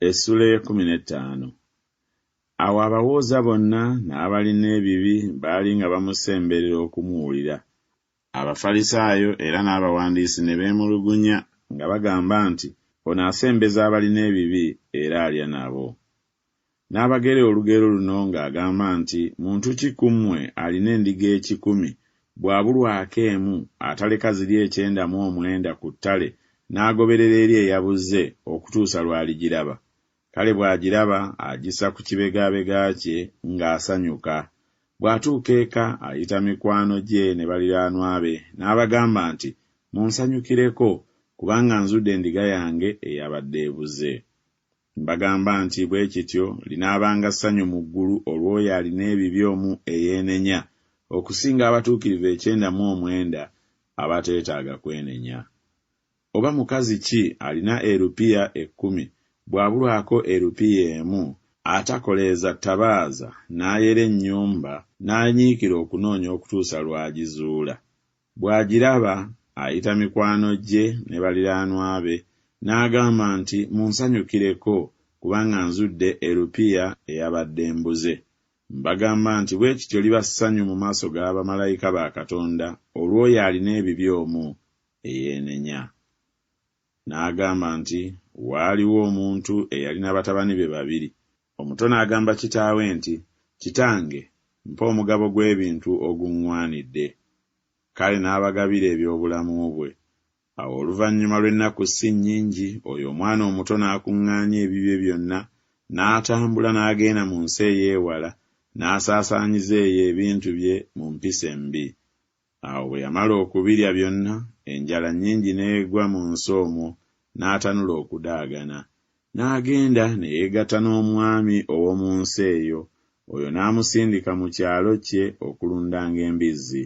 Essula ey'ekkumi n'ettaano. Awo abawooza bonna n'abalina ebibi baali nga bamusemberera okumuwulira. Abafalisaayo era n'abawandiisi ne beemulugunya nga bagamba nti, Ono asembeza abalina ebibi era alya nabo. N'abagera olugero luno ng'agamba nti, Muntu ki ku mmwe alina endiga ekikumi, bw'abulwako emu, ataleka ziri ekyenda mu omwenda ku ttale n'agoberera eri eyabuze okutuusa lw'aligiraba? Kale bw'agiraba agissa ku kibegaabega kye ng'asanyuka. Bw'atuuka eka ayita mikwano gye ne baliraanwa be n'abagamba nti, Munsanyukireko, kubanga nzudde endiga yange eyabadde ebuze. Mbagamba nti, bwe kityo linaabanga ssanyu mu ggulu olw'oyo alina ebibi omu eyeenenya, okusinga abatuukirivu ekyenda mu omwenda abateetaaga kwenenya. Oba mukazi ki alina erupiya ekkumi, bw'abulwako erupiya emu, atakoleeza ttabaaza n'ayera ennyumba n'anyiikira okunoonya okutuusa lw'agizuula? Bw'agiraba, ayita mikwano gye ne baliraanwa be n'agamba nti, Munsanyukireko kubanga nzudde erupiya eyabadde embuze. Mbagamba nti bwe kityo liba ssanyu mu maaso ga bamalayika ba Katonda olw'oyo alina ebibi omu eyeenenya. N'agamba nti, Waaliwo omuntu eyalina batabani be babiri. Omuto n'agamba kitaawe nti, Kitange, mpa omugabo gw'ebintu oguŋŋwanidde. Kale n'abagabira eby'obulamu bwe. Awo oluvannyuma lw'ennaku ssi nnyingi oyo omwana omuto n'akuŋŋaanya ebibye byonna, n'atambula n'agenda mu nsi ey'ewala, n'asaasaanyiza eyo ebintu bye mu mpisa embi. Awo bwe yamala okubirya byonna, enjala nnyingi n'egwa mu nsi omwo, n'atanula okudaagana. N'agenda ne yeegatta n'omwami ow'omu nsi eyo, oyo n'amusindika mu kyalo kye okulundanga embizzi.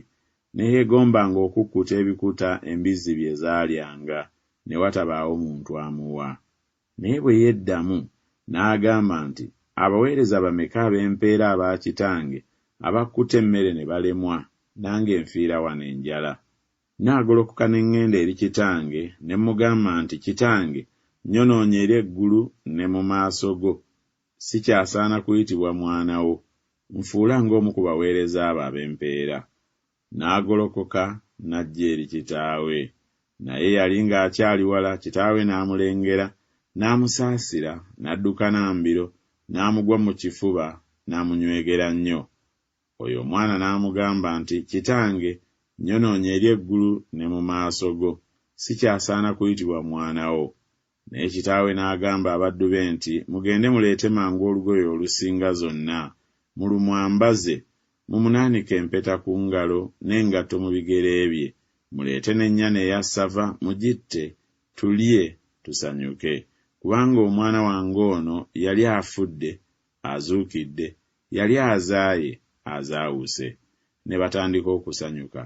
Ne yeegombanga okukkuta ebikuta embizzi bye zaalyanga, ne watabaawo muntu amuwa. Naye bwe yeddamu, n'agamba nti, Abaweereza bameka ab'empeera aba kitange abakutte emmere ne balemwa, nange nfiira wano enjala? Nnaagolokoka ne ŋŋenda eri kitange, ne mmugamba nti, Kitange, nnyonoonye eri eggulu ne mu maaso go. Sikyasaana kuyitibwa mwana wo. Nfuula ng'omu ku baweereza abo ab'empeera. N'agolokoka n'ajja eri kitaawe. Naye yali ng'akyali wala, kitaawe n'amulengera, n'amusaasira, n'adduka na mbiro, n'amugwa mu kifuba, n'amunywegera nnyo. Oyo omwana n'amugamba nti, Kitange, nnyonoonye eri eggulu ne mu maaso go. Sikyasaana kuyitibwa mwana wo. Naye kitaawe n'agamba abaddu be nti, Mugende muleete mangu olugoye olusinga zonna, mulumwambaze, mumunaanike empeta ku ngalo, n'engatto mu bigere bye, muleete n'ennyana eya ssava, mugitte, tulye, tusanyuke, kubanga omwana wange ono yali afudde, azuukidde, yali azaaye, azaawuse. Ne batandika okusanyuka.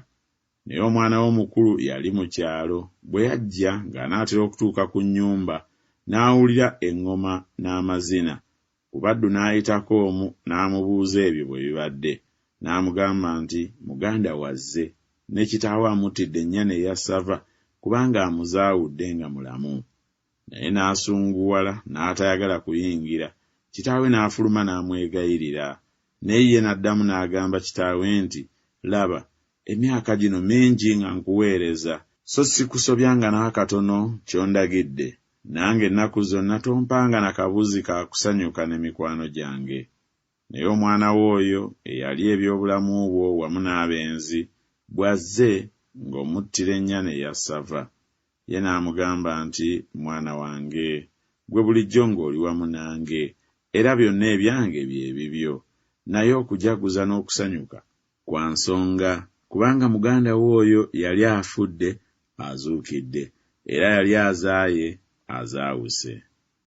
Naye omwana we omukulu yali mu kyalo, bwe yajja ng'anaatera okutuuka ku nnyumba, n'awulira eŋŋoma n'amazina. Ku baddu n'ayitako omu n'amubuuza ebyo bwe bibadde. N'amugamba nti, Muganda wo azze, ne kitaawe amuttidde ennyana eya ssava kubanga amuzaawudde nga mulamu. naye n'asunguwala n'atayagala kuyingira, kitaawe n'afuluma n'amwegayirira. Naye ye n'addamu n'agamba kitaawe nti, Laba, emyaka gino mingi nga nkuweereza, so ssikusobyanga n'akatono ky'ondagidde, nange ennaku zonna tompanga na kabuzi ka kusanyuka ne mikwano gyange. Naye omwana wo oyo eyalya eby'obulamu bwo wamu n'abenzi, bw'azze, nga omuttira ennyana eya ssava. Ye n'amugamba nti, Mwana wange, ggwe bulijjo nga oli wamu nange, era byonna ebyange bye bibyo. Naye okujaguza n'okusanyuka kwa nsonga, kubanga muganda wo oyo yali afudde, azuukidde, era yali azaaye, azaawuse.